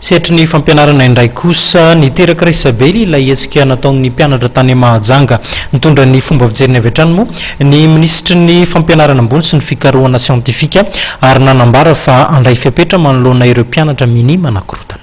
Setry ny fampianarana indray kosa, niteraka resabely ilay hetsika nataon'ny mpianatra tany Mahajanga. Nitondra ny fomba fijeriny avy hatrany moa ny minisitry ny Fampianarana ambony sy ny fikarohana siantifika ary nanambara fa handray fepetra manoloana ireo mpianatra minia manakorontana.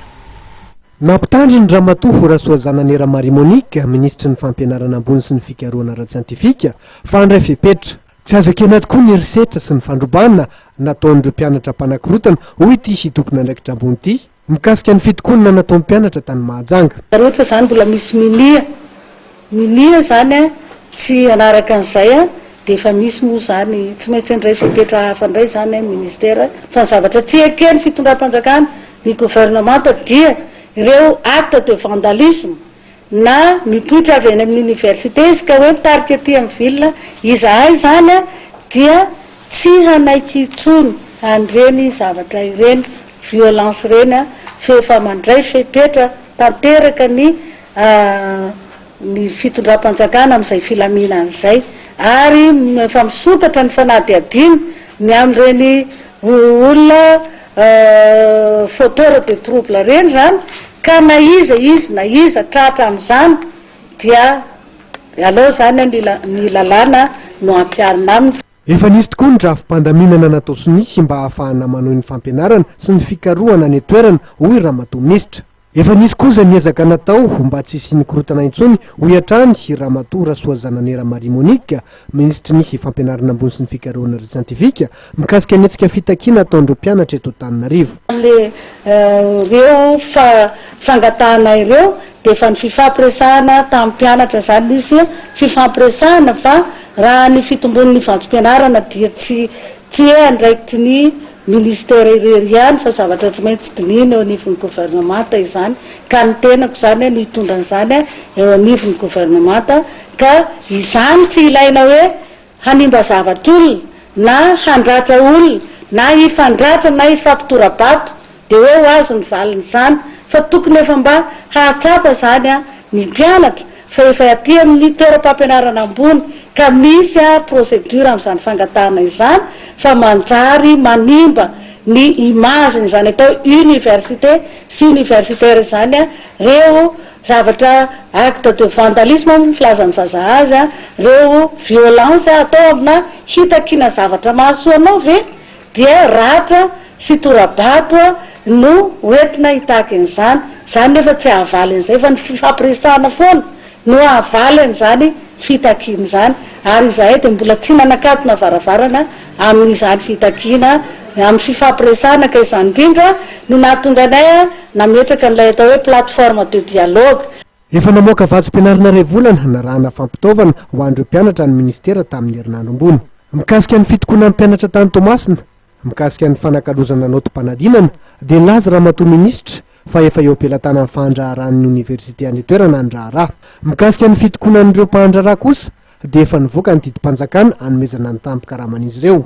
Nampitandriny Ramatoa Rasoazanane Ramarie Monique, minisitry ny Fampianarana ambony sy ny fikarohana ara-tsiantifika, fa handray fepetra. Tsy azo ekena tokoa ny herisetra sy ny fandrobana nataon'ireo mpianatra mpanakorotana, hoy ity Sy tompon'andraikitra ambony ity, mikasika ny fitokonana nataon'ny mpianatra tany Mahajanga. Ary ohatra izany mbola misy minia, minia izany an, tsy hanaraka an'izay an, dia efa misy moa izany, tsy maintsy handray fepetra hafa indray izany an ny ministera, fa ny zavatra tsy eken'ny fitondram-panjakana, ny gouvernemanta, dia ireo actes de vandalisme, na mipoitra avy any amin'ny Université izy ka hoe mitarika aty amin'ny ville izahay izany a, dia tsy hanaiky intsony an'ireny zavatra ireny, violence ireny a, f'efa mandray fepetra tanteraka ny ny fitondram-panjakana amin'izay filaminana izay, ary efa misokatra ny fanadihadiana ny amin'ireny olona Euh fauteur de trouble reny zany ka na iza izy na iza tratra amzany dia aleo zany ny lalàna no hampiharina aminy. Efa nisy tokoa ny rafi-pandaminana natao sonia mba hahafahana manohy ny fampianarana sy ny fikarohana any an-toerana, hoy Ramatoa Minisitra. Efa nisy kosa ny ezaka natao ho mba tsy hisian'ny korontana intsony, hoy hatrany i Ramatoa Rasoazanane Ramarie Monique, Minisitry ny Fampianarana ambony sy ny Fikarohana ara-tsiantifika, mikasika ny hetsika fitakiana ataon'ireo mpianatra eto Antananarivo. Tamin'ireo fangatahana ireo dia efa nififampiresahana tamin'ny mpianatra izany, nisy fifampiresahana fa raha ny fitombon'ny vatsim-pianarana dia tsy Tsy andraikitry ny Minisitera irery ihany fa zavatra tsy maintsy dinihina eo anivon'ny Governemanta izany ka ny tenako izany no hitondra an'izany eo anivon'ny Governemanta ka izany tsy ilaina hoe hanimba zavatr'olona na handratra olona na hifandratra na hifampitora-bato Dia hoe ho azy ny valin'izany fa tokony efa mba hahatsapa izany ny mpianatra fa efa aty amin'ny toeram-pampianarana ambony ka misy procédure amin'izany fangatahana izany fa manjary manimba ny image n'izany atao université sy universitaire izany reo zavatra acte de vandalisme moa ny filazan'ny vazaha azy, reo violence atao amina hitakiana zavatra mahasoa anao ve? dia ratra sy tora-bato no hoentina hitaky an'izany, izany nefa tsy hahavaly an'izay fa ny fifampiresahana foana no hahavaly an'izany fitakiana izany ary izahay dia mbola tsy nanakatona varavarana amin'izany fitakiana amin'ny fifampiresahana ka izany indrindra no nahatonga anay nametraka an'ilay atao hoe plateforme de dialogue Efa namoaka vatsim-pianarana iray volana narahana fampitaovana ho an'ireo mpianatra ny minisitera tamin'ny herinandro ambony. Mikasika ny fitokonan'ny mpianatra tany Toamasina, mikasika ny fanakalozana naotim-panadinana, dia nilaza Ramatoa Minisitra fa efa eo am-pelatanan'ny fahandraharahan'ny oniversite any an-toerana ny raharaha. Mikasika ny fitokonan'ireo mpahandraharaha kosa dia efa nivoaka ny didim-panjakana hanomezana ny tanim-pikaraman'izy ireo.